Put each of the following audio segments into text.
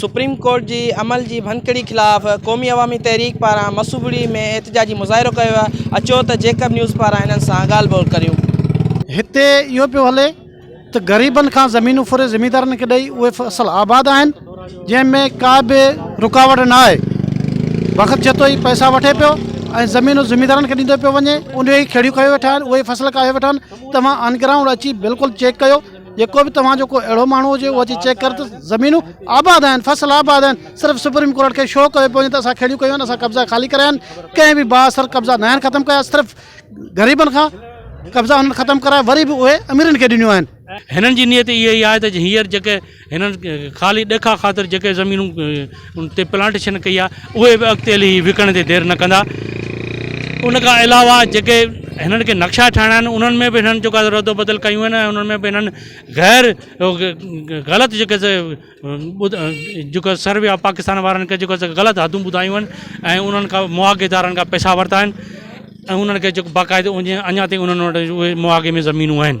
Supreme court جي عمل جي ڀڃڪڙي خلاف قومي عوامي تحريڪ پاران مصوبڙي ۾ احتجاجي مظاهرو ڪيو ويو آهي اچو ته جيڪب نيوز پاران هنن سان ڳالهه ٻولهه ڪريون. هتي اهو پيو هلي ته غريبن کان زمينون ڦري زميندارن کي ڏئي اهي اصل آباد آهن جنهن ۾ ڪا به رڪاوٽ نه آهي وقت جتو ئي پئسا وٺي پيو ۽ زمينون زميندارن کي ڏيندو پيو وڃي انهي ئي کيڙيون کيو ويٺا آهن اهي ئي فصل ڪاهيو ويٺا آهن توهان آن گرائونڊ اچي بلڪل چيڪ ڪيو جيڪو به توهان جو ڪو اهڙو ماڻهو هجي اهو اچي چيڪ ڪر ته زمينون آباد آهن فصل آباد آهن صرف سپريم ڪورٽ کي شو ڪيو پيو وڃي ته اسان کيڙيون ڪيون آهن اسان قبضا خالي ڪرايا آهن ڪنهن به با اثر قبضا ناهن ختم ڪيا صرف غريبن کان قبضا هنن ختم ڪرايا وري به اهي اميرن کي ڏنيون آهن هنن جي نيت اها ئي آهي ته هينئر جيڪي هنن خالي ڏيکاء خاطر جيڪي زمينون ان تي پلانٽيشن ڪئي آهي اهي به اڳتي هلي هي وڪڻڻ تي دير نه ڪندا ان کان علاوه جيڪي هنن کي نقشا ٺاهڻا آهن انهن ۾ به هنن جيڪو آهي رد و بدل ڪيون آهن ۽ انهن ۾ به هنن غير غلط جيڪي جيڪو سروي آف پاڪستان وارن کي جيڪو غلط حدون ٻڌايون آهن ۽ انهن کان معاگي دارن کان پئسا ورتا آهن ۽ انهن کي جيڪو باقاعدو اڃا تائين انهن وٽ اهي معاگي ۾ زمينون آهن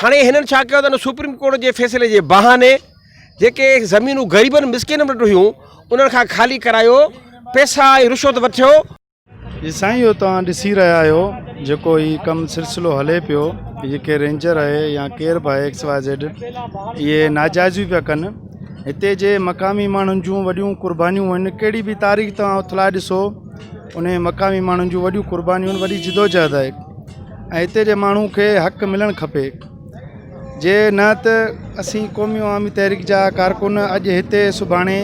هاڻي هنن ڇا ڪيو ته ان سپريم ڪورٽ جي فيصلي جي بهاني جيڪي زمينون غريبن مسڪينن وٽ هيون انهن کان خالي ڪرايو پئسا ۽ رشوت وٺيو. جي سائين اهو توهان ڏسي رهيا آهيو جيڪو هي ڪم سلسلو هلي پيو جيڪي رينجر اهي يا ڪير به آهي ايڪس واء زيڊ اهي ناجائزيون پيا ڪن هتي جي مقامي ماڻهن جون وڏيون قربانيون هن ڪهڙي به تاريخ توهان اٿلائي ڏسو انهي مقامي ماڻهن جون وڏيون قربانيون وڏي جدوجهد آهي ۽ هتي جي ماڻهو کي حق ملڻ کپي جي نه ته اسين قومي عوامي تحريڪ جا ڪارڪن اڄ هتي سڀاڻي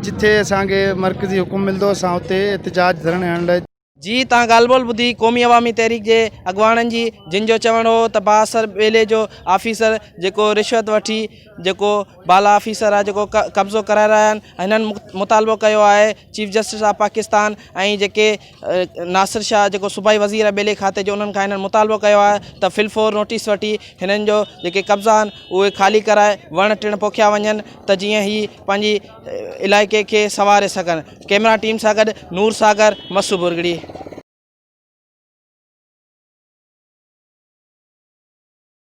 جتي اسانکي مرڪزي حڪم ملندو اسان اتي احتجاج ڌرڻي هڻڻ لاء جي تان ڳالهه ٻولهه ٻڌي قومي عوامي تحريڪ جي اڳواڻن جي جن جو چوڻ هو ته بااثر ٻيلي جو آفيسر جيڪو رشوت وٺي جيڪو بالا آفيسر آهي جيڪو قبضو ڪرائي رهيا آهن هنن مطالبو ڪيو آهي چيف جسٽس آف پاڪستان ۽ جيڪي ناصر شاهه جيڪو صوبائي وزير آهي ٻيلي کاتي جو انهن کان هنن مطالبو ڪيو آهي ته فل فور نوٽيس وٺي هنن جو جيڪي قبضا آهن اهي خالي ڪرائي وڻ ٽڻ پوکيا وڃن ته جيئن هي پنهنجي علائقي کي سنواري سگهن ڪيمرا ٽيم سان گڏ نور ساگر مسو ڀرڳڙي.